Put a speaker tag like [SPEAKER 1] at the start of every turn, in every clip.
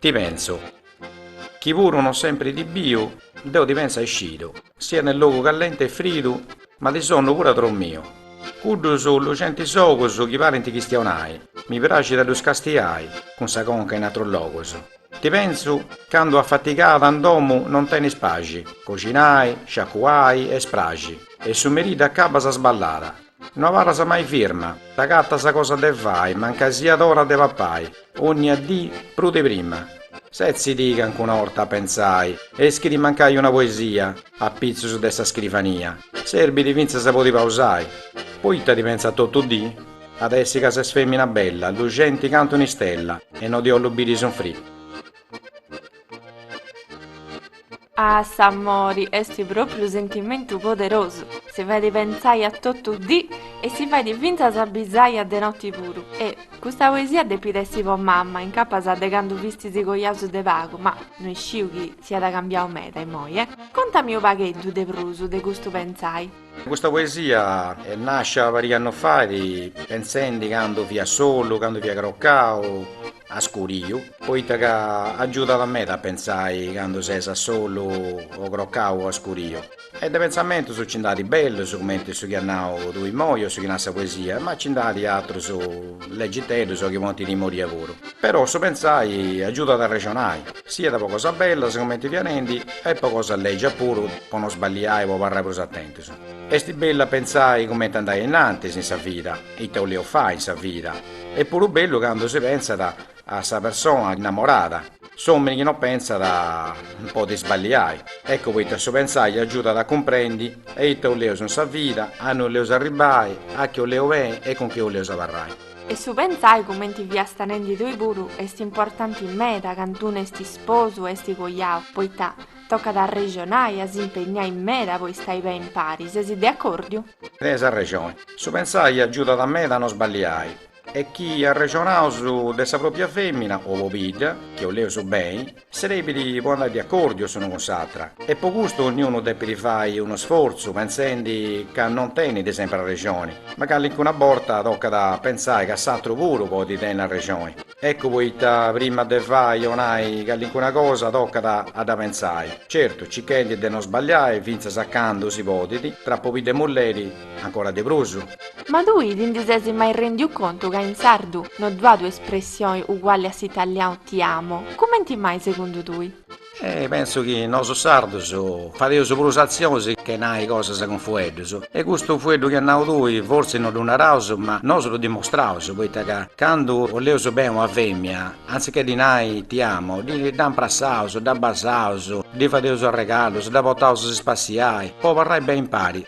[SPEAKER 1] Ti pensu, chi puru non sempri ti biu, deu ti pensu a scidu, siat in logu callenti e fridu, ma ti sonnu puru a trou miu. Cuddus luxentis ogus chi parint chistionai, mi praxit a ddus castiai cun sa conca in atrus logus. Ti pensu candu afatigada in domu non tenis paxi, coxinai, sciacuai e spraxi e su merì dd'acabas sballada. No abarras mai firma, t'agatas cosa de fai mancai siat ora de papai, onnia dì prus de prima. Setzidi cancuna 'orta a pentzai e iscridi mancai una poesia apitzus de sa scrivania serbidi fintzas a podi pausai, poita ti pentzu a totu dì? At a essi ca ses fèmina bella, luxenti cantu un'istella, e no ti 'ollu biri sunfri.
[SPEAKER 2] Ah, s'amori est pròpriu sentimentu poderosu, si fait pentzai a totu dì e si fait fintzas bisai a de noti puru. E, custa poesia depit essi po mama, incapas a de candu fistis cojaus de pagu, ma no isciu chi siat cambiau meda imoi, e. Contami u' pagheddu de prus de custu pentzai. Custa
[SPEAKER 1] poesia nasciat pariga annus faidi pentzendi candu fia solu, candu fia crocau, a scuriu, poita ca agiudat meda a pentzai candu ses a solu o crocau o a scuriu e de pentzamentus nci nd'at bellus cumenti su chi as nau tui immoi o su chi nat sa poesia, ma nci nd'at atrus legiteddus o chi ponint timoria puru, però su pentzai agiudat a arrexonai. Siat po cosas bellas comenti fia nendi e po cosas legias puru po no sballiai po abarrai prus atentus. Est bellu a pentzai comenti andai a innantis in sa vida, ita 'oleus fai in sa vida, est puru bellu candu si pentzat a sa persona innamorada, s'omini chi no pentzat podit sballiai, eccu poita su pentzai agiudat a cumprendi eita 'oleus in sa vida, annui 'oleus arribbai, a chi 'oleus beni e cun chi 'oleus abarrai. E
[SPEAKER 2] su pentzai cumenti fiast nendi tui puru est importanti meda candu unu est isposu o est coiau, poita tocat a arrexonai e a s'impegnai meda po istai beni impari, sesi de acordiu? Tenis
[SPEAKER 1] arrexoni. Su pentzai agiudat meda a no sballiai. E chi arrexonaus de sa propria femina o pobidda, chi 'oleus beni, Serbit po andai de accordiu s'unu cun s'atra e po custu ogniunu depit fai unu sforzu penzendi ca non tenit sempre arrexoni, ma callincuna borta tocat a pentzai ca s'atru puru podit tenni arrexoni, eccu poita prima de fai o nai callincuna cosa tocat a dda pentzai, certu cichendi de non sbagliai fintzas a candu si podit, tra pobiddu e mulleri, Ancora de prus. Ma tui ti
[SPEAKER 2] ndi ses mai rendiu contu ca in sardu no ddu at un'espressioni uguali a s'italianu ti amo? Cumenti mai segundu tui? Eh, pentzu chi
[SPEAKER 1] nosu sardus fadeus prus atzionis che nai cosas cun fueddus. E custu fueddu chi as nau tui fortzis no ddu naraus ma nosu ddu dimostraus, poita ca candu oleus beni una femia, antzitchè ddi nai ti amo, dda imprassaus, dda basaus, ddi fadeus arregalus, dda potaus a si spassiai po abarrai beni impari.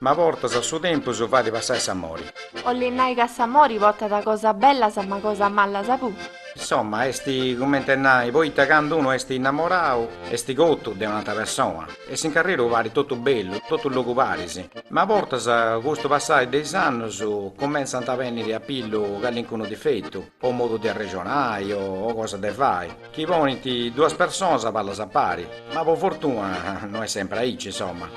[SPEAKER 1] Ma bortas su tempus fadi passai s'amori. 'olli nai
[SPEAKER 2] ca s'amori potat cosas bellas ma cosas mallas puru. Insomma est
[SPEAKER 1] cumenti e nai poita candu unu est innamorau est cotu de un'ata persona e s'inc'arreru parit totu bellu, totu logu paris, ma bortas cun su passai de is annus cumentzant a benniri a pillu calincunu difetu o modu de arrexonai o cosa de fai. Chi ponint duas personas a ballas a pari. Ma po fortuna no est sempre aici, insomma.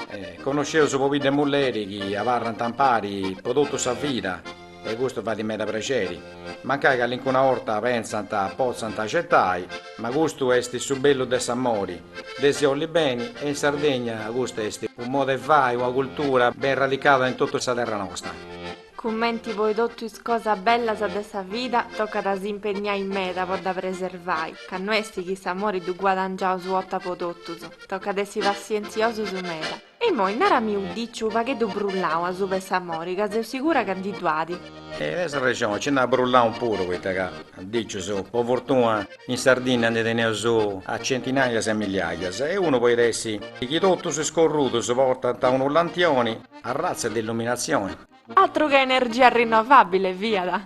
[SPEAKER 1] Connosceus pobiddu e mulleri chi abarrant ampari po totu sa vida e custu fait meda prexeri. Mancai calincuna 'orta pentzant potzant acetai, ma custu est su bellu de s'amori, de si 'olli beni e in Sardegna custa est unu modu 'e fai, una cultura ben radicada in totu sa terra nosta. Cumenti
[SPEAKER 2] po totu is cosas bellas de sa vida, tocat a s'impenniai meda po dda preservai, ca no est chi s'amori ddu guadangiaus u'ota po totus, tocat a essi passientziosus meda. E imoi narami u diciu u pagheddu brullau asuba 'e s'amori, ca seu sigura ca ndi ddu adi. Eh tes
[SPEAKER 1] arrexoni, nci nd'at brullanus puru, poita ca, dicius, po fortuna in Sardinnia ndi teneus a centinaias e milliaias, e unu podit essi chi totus is corrudus portànt unu lantioni, Arratza de illuminatzione. Atru che
[SPEAKER 2] energia rinnovàbile
[SPEAKER 1] fiat.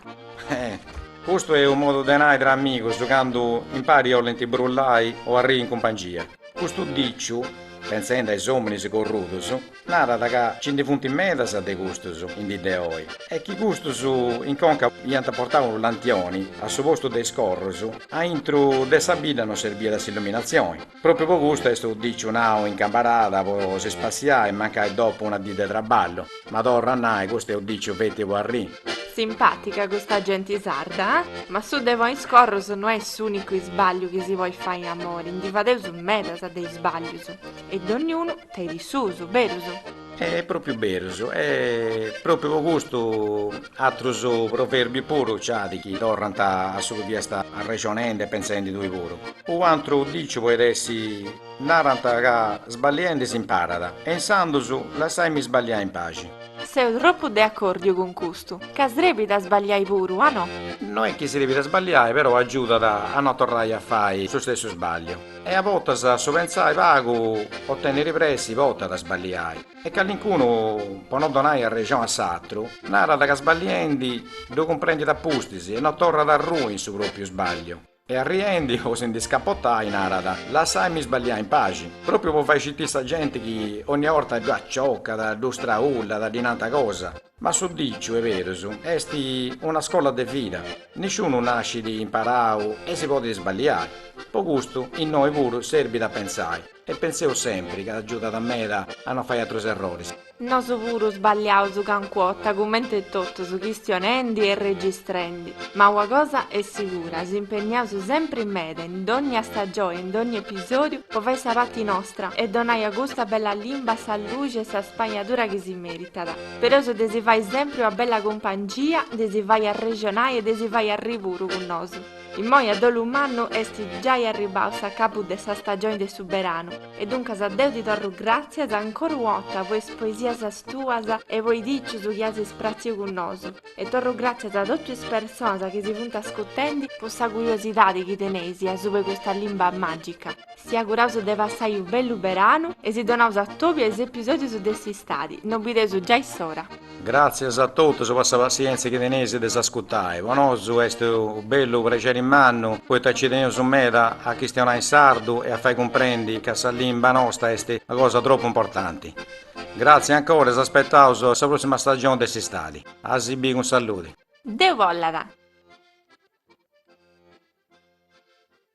[SPEAKER 1] Custu est unu modu de nai tra amigus candu impari olint brullai o arriri in cumpangia. Custu dìciu, pentzendi a is òminis corrudus, narat ca nci ndi funt medas de custus in dì de oi e chi custus in conca iant portau unu lantioni a su postu de is corrus, aintru de sa bidda non serbiat s'illuminatzioni. Pròpiu po custu est u dìciu nau in cambarada po si spassiai e mancai dopu una dì de traballu. Ma torru a nai, custu est u dìciu feti po arri. Simpàtica
[SPEAKER 2] custa genti sarda, ah? Ma su de ponni is corrus no est s'ùnicu isbàgliu chi si podit fai in amori, ndi fadeus medas de isbàglius. E donniunu tenit is suus, berus? E
[SPEAKER 1] propriu berus e propriu po custu atrus proverbiu puru ci adi chi torrant a su chi fiast arrexonendi e pentzendi tui puru. U antru diciu poit essi, narant ca sballiendi s'imparat e insandus lassaimi sballiai in paxi. Seu tropu
[SPEAKER 2] de acordiu cun custu, ca srebit a sballiai puru, a no? No est chi srebit a
[SPEAKER 1] sballiai però agiudat a no torrai a fai su stessu sballiu. E a bortas su pentzai pagu o tenniri pressi portat a sballiai e callincunu, po no donai arrexon a s'atru, narat ca sballiendi ddu cumprendit a pustis e no torrat a rui in su propriu sballiu e arriendi po si ndi scapotai narat, lassaimi sballiai in paxi, propriu po fai citiri sa genti chi onnia orta ddu accioccat, ddu straullat, ddi nanta cosa. Ma su diciu est berus est una scola de vida, nisciunu nascit imparau e si podit sballiai, po custu innoi puru serbit a pentzai e pentzaus sempri ca agiudat meda a no fai atrus erroris. Nosu puru
[SPEAKER 2] sballiaus cancu'ota cumenti totus chistionendi e registrendi, ma ua cosa est sigura s'impenniaus sempri meda in dogna stagioi e in dogna episodiu po fai sa pati nostra e donai a custa bella limba sa luxi e sa spagnadura chi si meritat. Speraus de si fai sempri una bella cumpangia, de si fai arrexonai e de si fai arri puru cun nosu. Immoi a dolu mannu est giai arribbau s'acabu de sa stagioni de su beranu e duncas deu ti torru gràtzias ancora u'ota po is poesias tuas e po is dicius chi as spratziu cun nosu e torru gràtzias a totu is personas chi si funt ascutendi po sa curiosidadi chi teneis asubu 'e custa limba màgica. Si auguraus de passai u bellu beranu e si donaus atòbiu a is episodius de s'istadi, no bideus giai s'ora. Gràtzias
[SPEAKER 1] a totus po sa passientzia chi teneis de s'ascutai. Po nosu est u bellu prexeri mannu poita ci teneus meda a chistionai in sardu e a fai cumprendi ca sa limba nosta est una cosa tropu importanti. Gràtzias ancora e s'aspetaus a sa pròssima stagioni
[SPEAKER 2] de
[SPEAKER 1] s'istadi. A si bii cun salludi. Deu bollat!